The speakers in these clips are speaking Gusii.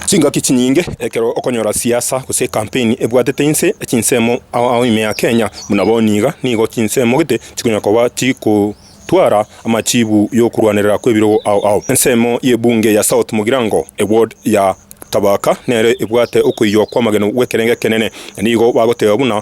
Chingaki chinyinge ekero okonyora siasa gose ekampeni ebwatete inse chinsemo ao ime ya Kenya, buna bono niga nigo chinsemo gete chikonya koba chigotwara amachiibu y'okorwanerera kw'ebirogo ao ao. Ensemo y'ebunge ya South Mugirango, eward ya Thabaka, nere ebwate okoiywa kw'amagenu gw'ekerengo ekenene, na nigo bagoteba buna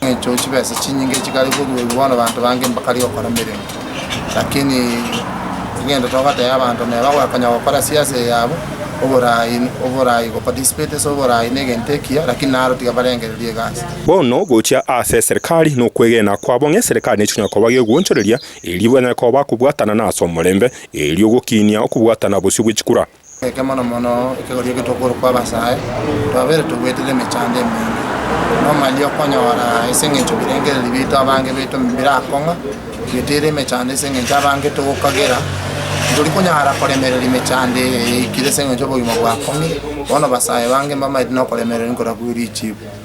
Engecho chibesa chinyinge chikare koruorwa bono banto bange mbakare gokora emeremo, lakini egento togotebia abanto neba konya gokora siasa eye yabo oboraai oboraai go participate ase oboraai na egento ekiya lakini naro tiga barengereria egasi. Bono gochia ase eserekari nokwegena kwabo ng'a eserekari nechi chikonyara koba gegoonchoreria erio banyare koba bakobwatana na ase omorembe, erio gokiinia okobwatana bosio bwe chikura. Eke mono mono ekegoria eke tokorokwa abasae, twabeire togoetera emechando emenge, nomanyia okonyora ase eng'encho ebirengererio biaito abange baito birakong'a, togoetera emechando ase eng'encho abange togokagera, tori konyara koremereri emechando eye eikire ase eng'encho obogima bwakong'ire, bono basae bange mbamaete nokoremereri nkorakweri chifu.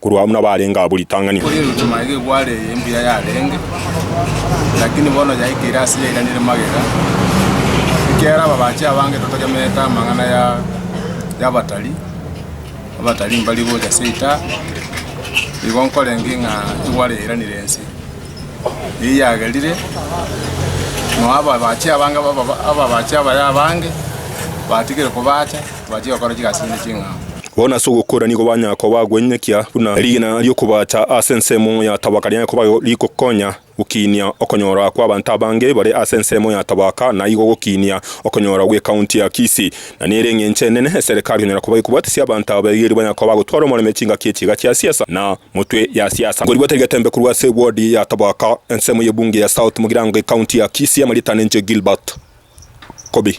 Korwa amo nabarenge abwo ritang'ani. Kori eruchuma eye egware eye mbuya yarenge, lakini bono yaikeire ase yairanire magega, ekiagera ababache abange totachamerete amang'ana ya y'abatari, abatari mbari gocha seita, igo nkorenge ng'a egware yairanire ense. Eyio yagerire, noa ababache abange ababa ababache abaya abange, batigire kobacha, tibachia gokora chigasi chinde ching'ao. Bono ase ogokora nigo banyakoba gwenyekia buna erigena ri'okobaacha ase ensemo ya tabaka riaye koba rigokonya gokiinia okonyora kw'abanto abange bare ase ensemo ya tabaka na igo gokiinia okonyora gw'ekaunti ya Kisii. Na nere eng'encho enene eserekari konyara koba ekobatesia abanto aba baigerie banyakoba gotwara omoreme chingaki echiga chia siasa na motwe ya siasa. Nkorigwete rigetembe korwa ase wodi ya tabaka ensemo y'ebunge ya South mogirango g'ekaunti ya Kisii amarieta nenche Gilbert Kobi.